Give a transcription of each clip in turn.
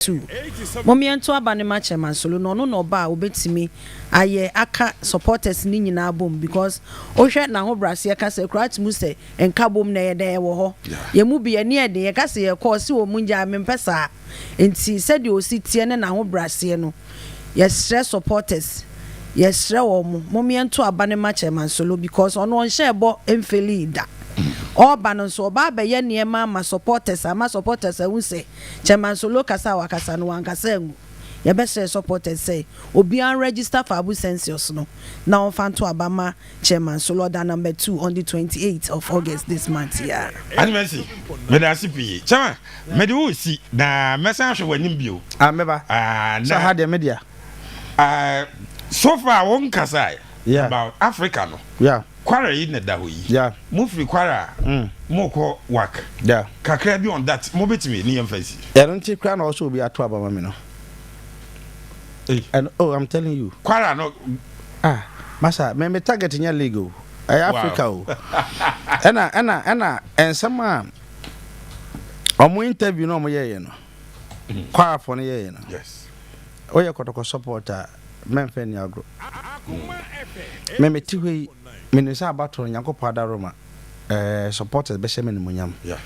two. Mom yɛnto aba no ma Chairman Solo na ɔno na ɔba a obetumi ayɛ aka supporters no nyinaa bom because wohwɛ n'ahobraseɛ kasa kura ate mu sɛ nkabom na ɛyɛ dɛn ɛwɔ hɔ. Yɛn mu bi ani yɛ den yɛka sɛ yɛkɔ ɔse wɔ mu ngyaa mempɛ saa nti sɛdeɛ ɔsi teɛ ne n'ahobraseɛ no yɛsrɛ supporters yɛsrɛ wɔn mom yɛnto aba no ma Chairman Solo because ɔno ɔnhyɛɛ bɔ mfeelii da ɔɔba no nso ɔba abɛyɛ nneɛma ama supporters ama supporters ahu sɛ Chairman Solo kasa a wakasa no wankasa angu. Yɛbɛsrɛ supporters sɛ obiara nregister for Abu Census no na ɔmfa nto aba mma Chairman Solo ɔda number two on the twenty eight of August this month yi ara. Ade Mercy, meda ase pii. Chairman, mede wo resi na mɛsan ahwɛ w'anim bio. Ah, mɛba. Sɛ ha deɛ me dea. Ah, so far wonkasae about Africa no. Yeah. Kwara yi na ɛda hɔ yi, mo firi Kwara a, mo kɔ Wak, kakra bi on that, mo bɛtumi, ne yɛn fa nsi. Ɛno nti koraa na ɔsɛ obi ato aba ma me no. And oh, I'm telling you. Kwara no. Ah, masa, me me target nyɛ league o, ɛyɛ Africa o. Ɛna ɛna ɛna nsɛm a wɔn interview na wɔn yɛɛyɛ no. Choir fo no yɛ yɛ no. Yes. Wo yɛ kɔtɔkɔ support a mɛ nfɛ ni agro. Mm. Mɛ mɛ ti hɔ yi mɛ nim sɛ abatɔ nyankopɔ adaro ma ɛɛ eh, supporters bɛ hyɛ mɛ nimunyam. Yeah.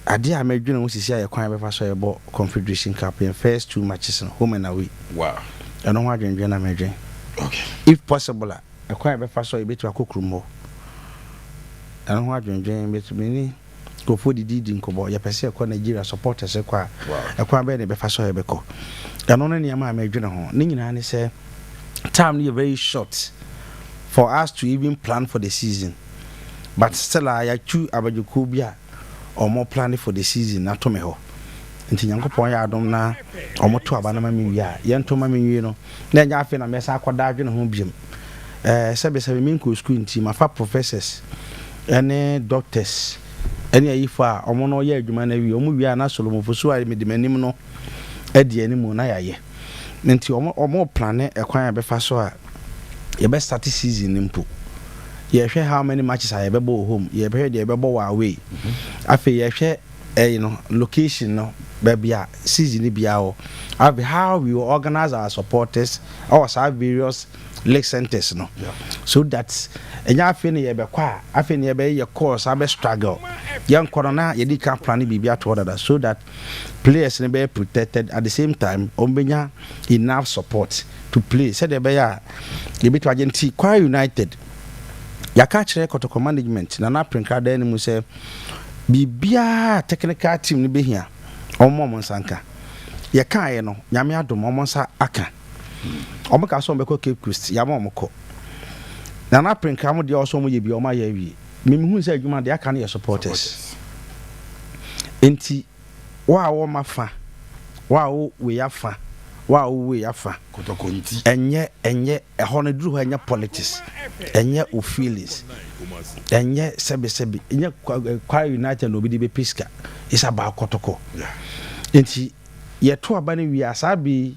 Adeɛ a mɛ dwene ho sisi ayɛ kwan bɛfa so ɛbɔ Confederation Cup yɛn first two matches no home and away. Wow. Ɛno ho adwendwen na mɛ dwen. Okay. If possible a ɛkwan bɛfa so yɛbɛtumi akɔ kurom hɔ. Ɛno ho adwendwen bɛtumi ni. Nkurɔfoɔ didi di nkɔmmɔ. Yɛpɛ sɛ yɛkɔ Nigeria supporters kɔ a, ɛkwan bɛn na yɛbɛfa so a yɛbɛkɔ? Ɛno ne nneɛma a meredwene ho. Ne nyinaa ne sɛ, time no yɛ very short for us to even plan for the season. But still a, yɛatu abadwokuo bi a wɔplane for the season no ato me hɔ. Nti Nyankopɔn yɛ adom na wɔto aba no ma me wie a, yɛnto ma me nwie no, na ɛnyɛ afei na mɛsan akɔda adwene ho biom. Eh, sɛbesɛbe menkɔɔ sukuu nti, mafa professors. ɛne doctors ɛne ayifo a wɔn no yɛ adwuma no awie wɔn wie a na solomofo so a mede m'anim no adi anim na yɛayɛ nti wɔn wɔn plane ɛkwan a yɛbɛfa so a yɛbɛ start season no mpo yɛhwɛ how many matches a yɛbɛbɔ wɔ home yɛbɛhwɛ deɛ yɛbɛbɔ wɔ away afei yɛhwɛ ɛyi no location no baabi a season no biara wɔ afei how we organize our supporters ɛwɔ saa various lake centres no so that ɛnyɛ afei na yɛbɛkɔ a afei na yɛbɛyɛ yɛ course abɛ struggle yɛn kɔ no na yɛde kan plan ne biribi ato hɔ dada so that players no bɛyɛ protected at the same time wɔn bɛnya enough support to play sɛdeɛ ɛbɛyɛ a yɛbɛtumi agye nti Kwara United yɛaka akyerɛ kɔtɔkɔ management na na prenkradan no mu sɛ biribiara technical team no bɛhia wɔn wɔn nsa nka yɛkaeɛ no nyame adom wɔn nsa aka Ɔmo kaa sɛ ɔmo bɛkɔ Cape Coast, yama ɔmo kɔ. Na na Prenkra mo deɛ ɔwɔ sɛ ɔmo yɛ bia ɔmo ayɛ awie. Me mehuu sɛ adwuma deɛ aka no yɛ supporters. Nti wo a wɔ ma fa, wo a wo wei afa, wo a wo wei afa. Kɔtɔkɔnti. Ɛnyɛ ɛnyɛ ɛhɔ no duru hɔ ɛnyɛ politics, ɛnyɛ wo feelings, ɛnyɛ sɛbi sɛbi, ɛnyɛ Kwara United na obi de bɛpɛ sika. It's about kɔtɔkɔ. Nti yɛto aba no wie a saa bɛ yi.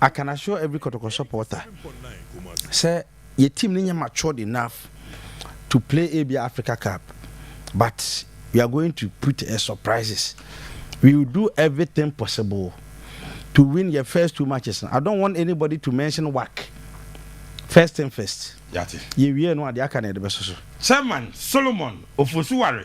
I can assure every Kɔtɔkɔ supporter sɛ yɛ team no nyɛ matured enough to play ebia Africa Cup but we are going to put a surprises. We will do everything possible to win yɛ first two matches no. I don't want anybody to mention WAC. First thing first. Yɛatie. Yɛwie no a deɛ aka no yɛde bɛso so. Chairman Solomon Ofosu-Ware